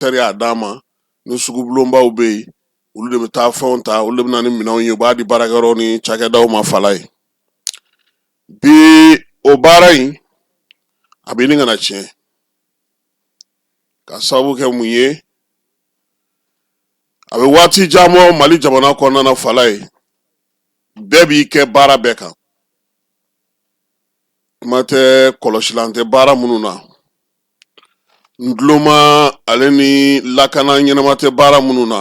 teri a d'a ma ni sugubulonbaw bɛ yen olu de bɛ taa fɛnw ta olu de bɛ na ni minɛnw ye u b'a di baarakɛyɔrɔ ni cakɛdaw ma fala ye bi o baara in a bɛ ɲini ka na tiɲɛ ka sababu kɛ mun ye a bɛ waati jan bɔ mali jamana kɔnɔna na fala ye bɛɛ b'i kɛ baara bɛɛ kan kuma tɛ kɔlɔsilan tɛ baara minnu na ntuloma ale ni lakana ɲɛnama tɛ baara minnu na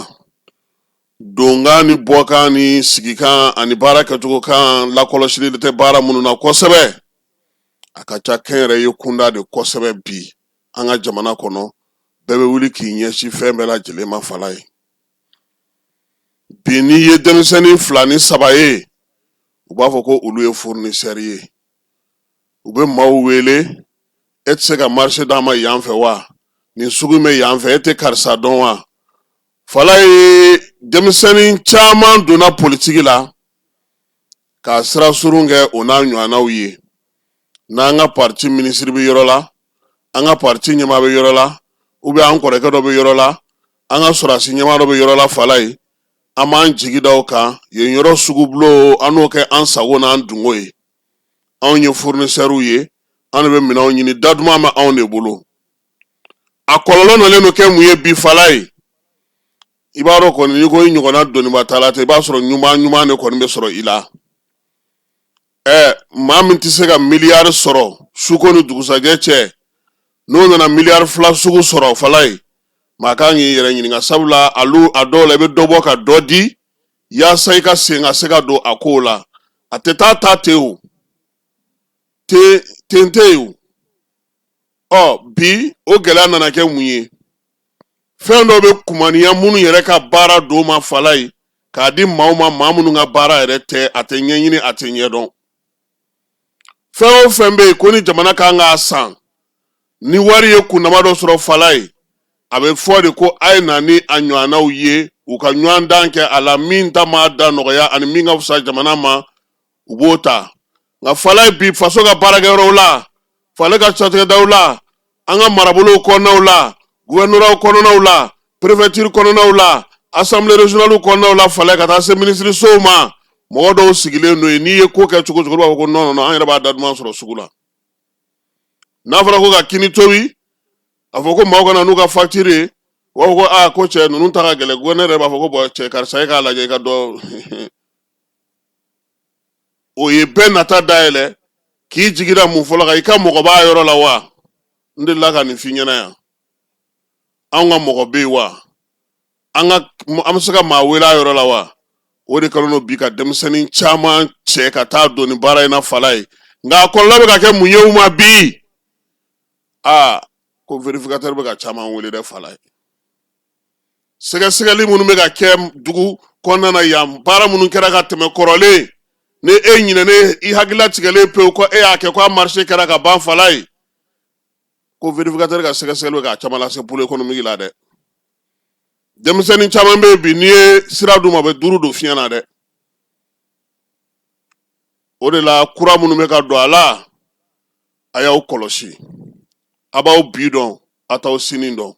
donkan ni bɔkan ni sigikan ani baara kɛcogo kan lakɔlɔsili tɛ baara minnu na kosɛbɛ a ka ca kɛnyɛrɛye kunda de kosɛbɛ bi an ka jamana kɔnɔ bɛɛ bɛ wuli k'i ɲɛsin fɛn bɛɛ lajɛlen ma fala ye bi n'i ye denmisɛnnin fila ni saba ye u b'a fɔ ko olu ye furunisɛri ye u bɛ maaw wele e tɛ se ka marise d'a ma yan fɛ wa nin sugu bɛ yan fɛ e tɛ karisa dɔn wa fala ye denmisɛnnin caman donna politiki la k'a sira surun kɛ o n'a ɲɔgɔnnaw ye n'an ka pariti minisiri bɛ yɔrɔ la an ka pariti ɲɛmaa bɛ yɔrɔ la u bɛ an kɔrɔkɛ dɔ bɛ yɔrɔ la an ka sɔrɔdasi ɲɛmaa dɔ bɛ yɔrɔ la fala ye an b'an jigi da o kan yen yɔrɔ sugubulon an n'o kɛ an sago n'an dungo ye anw ye furunisɛriw ye an de bɛ minɛnw ɲini da duman bɛ anw de bolo a kɔlɔlɔ nalen don kɛ mun ye bi fala ye i b'a dɔn kɔni n'i ko i ɲɔgɔnna dɔnniba t'a la ten i b'a sɔrɔ ɲuman ɲuman de kɔni bɛ sɔrɔ i la ɛɛ maa min tɛ se ka miliyari sɔrɔ suko ni dugusajɛ cɛ n'o nana miliyari fila sugu sɔrɔ fala ye maa kan k'i yɛrɛ ɲininka sabula alu a dɔw la i bɛ dɔ bɔ ka dɔ di yaasa i ka sen ka se ka don a kow la a tɛ taa ta ten o te ten tɛ yen o ɔ bi o gɛlɛya nana kɛ mun ye fɛn dɔw bɛ kumaniya minnu yɛrɛ ka baara don ma fala ye k'a di maaw ma maa minnu ka baara yɛrɛ tɛ a tɛ ɲɛɲini a tɛ ɲɛdɔn fɛn o fɛn bɛ yen ko ni jamana kan k'a san ni wari ye kundama dɔ sɔrɔ fala ye a bɛ fɔ de ko a ye na ni a ɲɔgɔnnaw ye u ka ɲɔgɔndan kɛ a la min ta ma da nɔgɔya ani min ka fisa jamana ma u b'o ta nka fala ye bi faso ka baarakɛyɔrɔw la fale ka cakɛdaw la an ka marabolow kɔnɔnaw la guvɛrɛnɔraw kɔnɔnaw la perefɛtiri kɔnɔnaw la asanbile reziyɔnaliw kɔnɔnaw la fale ka taa se minisirisow ma mɔgɔ dɔw sigilen don yen n'i ye ko kɛ cogo cogo b'a fɔ ko nɔn an yɛrɛ b'a da duman sɔrɔ sugu la n'a fɔra ko ka kini tobi a fɔ ko maaw ka na n'u ka fakitiri ye u b'a fɔ ko aa ko cɛ ninnu ta ka gɛlɛn guvɛrɛnɛ yɛrɛ b'a fɔ ko bɔn cɛ karisa e k'a lajɛ i ka dɔ o ye bɛɛ nata dayɛlɛ k'i jigira mun fɔlɔ kan i ka mɔgɔ b'a yɔrɔ la wa n delila ka nin f'i ɲɛna yan anw ka mɔgɔ bɛ yen wa an ka an bɛ se ka maa wele a yɔrɔ la wa o de kɛlen don bi ka denmisɛnnin caman cɛ ka taa don nin baara in na fala ye nka a kɔlɔlɔ bɛ ka kɛ mun ye u ma bi aa ko vérificateur bɛ ka caman wele dɛ fala ye sɛgɛsɛgɛli minnu bɛ ka kɛ dugu kɔnɔna na yan baara minnu kɛra ka tɛmɛ kɔrɔlen ni e ɲinɛnen i hakilila tigɛlen pewu ko e y'a kɛ ko a marché kɛra ka ban fala ye ko vérificateur ka sɛgɛsɛgɛli bɛ ka caman lase pôle économique la dɛ denmisɛnnin caman bɛ yen bi n'i ye sira d'u ma u bɛ duuru don fiɲɛ na dɛ o de la kura minnu bɛ ka don a la a y'aw kɔlɔsi a b'aw bi dɔn a t'aw sini dɔn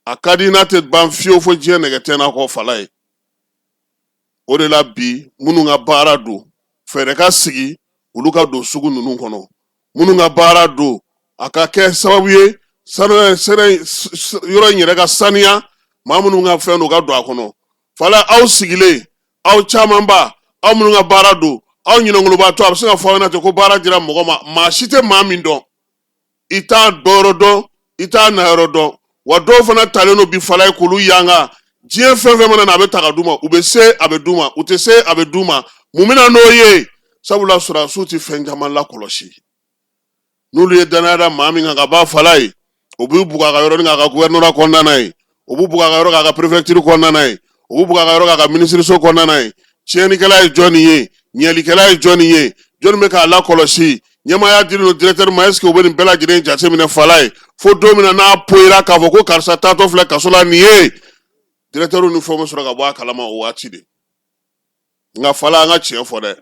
a ka di n'a tɛ ban fiyewu fo diɲɛ nɛgɛ tɛ n'a kɔ fala ye o de la bi minnu ka baara don fɛɛrɛ ka sigi olu ka don sugu ninnu kɔnɔ minnu ka baara don a ka kɛ sababu ye yɔrɔ in yɛrɛ ka saniya maa minnu ka fɛn don ka don a kɔnɔ fala aw sigilen aw camanba aw minnu ka baara don aw ɲinɛnkoloba to a bɛ se ka fɔ aw ɲɛna ten ko baara dira mɔgɔ ma maa si tɛ maa min dɔn i t'a dɔyɔrɔ dɔn i t'a nayɔrɔ dɔn wa dɔw fana talen don bi fala ye k'olu yanga diɲɛ fɛn fɛn mana na a bɛ ta ka d'u ma u bɛ se a bɛ d'u ma u tɛ se a bɛ d'u ma mun bɛ na n'o ye sabula sɔrɔdasiw tɛ fɛn caman lakɔlɔsi n'olu ye danaya da maa min kan ka ban fala ye u b'u bugɔ a ka yɔrɔnin kan a ka gouvernorat kɔnɔna na yen u b'u bugɔ a ka yɔrɔ k'a ka préfecture kɔnɔna na yen, u b'u bugɔ a ka yɔrɔ k'a ka minisiriso kɔnɔna na yen. Tiɲɛnikɛla ye jɔni ye? Ɲɛlikɛla ye jɔni ye? Jɔni bɛ k'a lakɔlɔsi? Ɲɛmaaya dilen don directeur ma est-ce que u bɛ nin bɛɛ lajɛlen jateminɛ fala ye? Fo don min na n'a poyira k'a fɔ ko karisa taatɔ filɛ kaso la nin ye, directeur ni fɛnw bɛ sɔrɔ ka bɔ a kalama o waati de. Nka fala an ka tiɲɛ fɔ dɛ,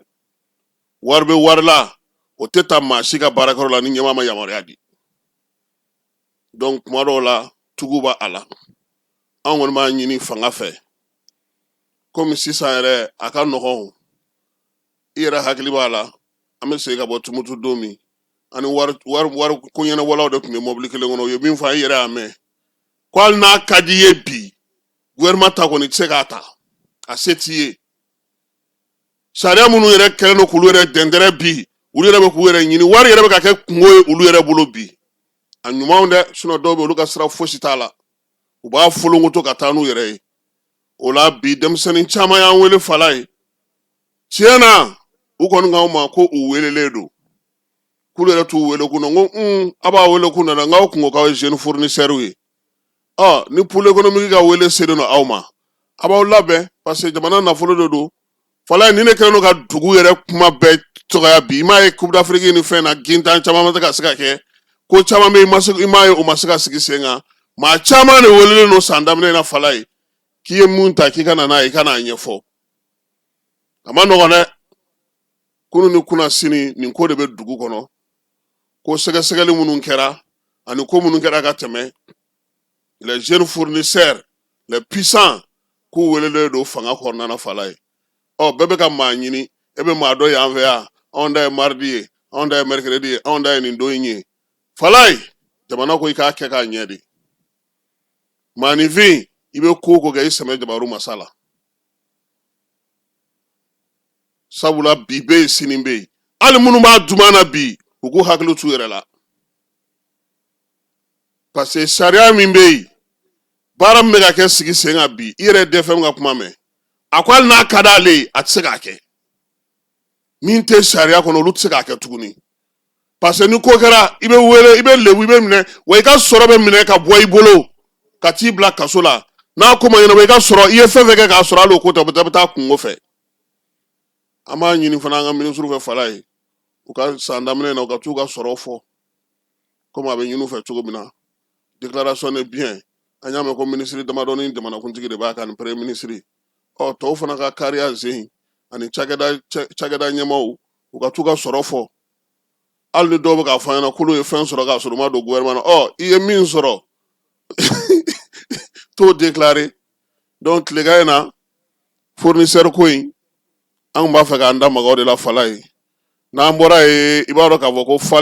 wari bɛ wari la, o tɛ ta maa si ka baarakɛyɔrɔ la ni ɲɛmaa ma yamaruya di. donc kuma dɔw la tugu b'a la an kɔni b'a ɲini fanga fɛ kɔmi sisan yɛrɛ a ka nɔgɔn i yɛrɛ hakili b'a la an bɛ segin ka bɔ tumutu don min ani wariko ɲɛnabɔlaw de tun bɛ mɔbili kelen kɔnɔ u ye min fɔ i yɛrɛ y'a mɛn ko hali n'a ka di i ye bi gouvernement ta kɔni tɛ se k'a ta a se t'i ye sariya minnu yɛrɛ kɛlen don k'olu yɛrɛ dɛndɛrɛ bi olu yɛrɛ bɛ k'u yɛrɛ ɲini wari yɛrɛ bɛ ka kɛ kungo ye olu yɛrɛ bolo bi a ɲumanw dɛ sinon dɔw bɛ olu ka sira fosi t'a la u b'a folonkoto ka taa n'u yɛrɛ ye o la bi denmisɛnnin caman y'an wele fala ye tiɲɛ na u kɔni k'anw ma ko u welelen don k'olu yɛrɛ t'u wele kun na n ko aw b'a wele kun na dɛ n k'aw kungo k'aw ye jeune fournisseurw ye ni pôle économique ka wele selen don aw ma a b'aw labɛn parce que jamana nafolo de don falaye nin de kɛlen don ka dugu yɛrɛ kuma bɛɛ dɔgɔya bi i m'a ye coupe d'Afrique ni fɛn na gintan caman ma se ka se ka kɛ ko caman i m'a ye u ma se ka sigi sen kan maa caman de welelen don san daminɛ in na falaye k'i ye mun ta k'i ka na n'a ye i ka n'a ɲɛfɔ a ma nɔgɔ dɛ kunun ni kunasini nin ko de bɛ dugu kɔnɔ ko sɛgɛsɛgɛli minnu kɛra ani ko minnu kɛra ka tɛmɛ les jeunes fournisseurs les puissants k'u welelen don fanga kɔnɔna na falaye ɔ bɛɛ bɛ ka maa ɲini e bɛ maa dɔ y'an fɛ yan anw ta ye mardi ye anw ta ye mercredi ye anw ta ye nin don in ye falaye jamana ko i k'a kɛ k'a ɲɛ de maaninfin i bɛ ko o ko kɛ i sɛmɛ jabaru masa la sabula bi bɛ yen sini bɛ yen hali minnu b'a duman na bi u k'u hakili t'u yɛrɛ la parce que sariya min bɛ yen baara min bɛ ka kɛ sigi sen kan bi i yɛrɛ DFM ka kuma mɛn a ko hali n'a ka d'ale ye a tɛ se k'a kɛ min tɛ sariya kɔnɔ olu tɛ se k'a kɛ tuguni parce que ni ko kɛra i bɛ wele i bɛ lebu i bɛ minɛ wa i ka sɔrɔ bɛ minɛ ka bɔ i bolo ka t'i bila kaso la n'a ko ma ɲɛnabɔ i ka sɔrɔ i ye fɛn fɛn kɛ k'a sɔrɔ hali o ko tɛ u bɛ taa kungo fɛ an b'a ɲini fana an ka minisiriw fɛ falaye u ka san daminɛ na u ka t'u ka sɔrɔ fɔ komi a bɛ ɲini u fɛ cogo min na déclaration de biens an y'a mɛn ko minisiri damadɔ ni jamanakuntigi de b'a kan ni premier ministre ɔ tɔw fana ka kariya zen ani cakɛda cɛ- cakɛda ɲɛmaaw u ka t'u ka sɔrɔ fɔ hali ni dɔw bɛ k'a fɔ an ɲɛna k'olu ye fɛn sɔrɔ k'a sɔrɔ u ma don gouvernement na ɔ i ye min sɔrɔ t'o déclarer donc tilegan in na fournisseur ko in an b'a fɛ k'an da maga o de la falaye n'an bɔra yen i b'a dɔn k'a fɔ ko falen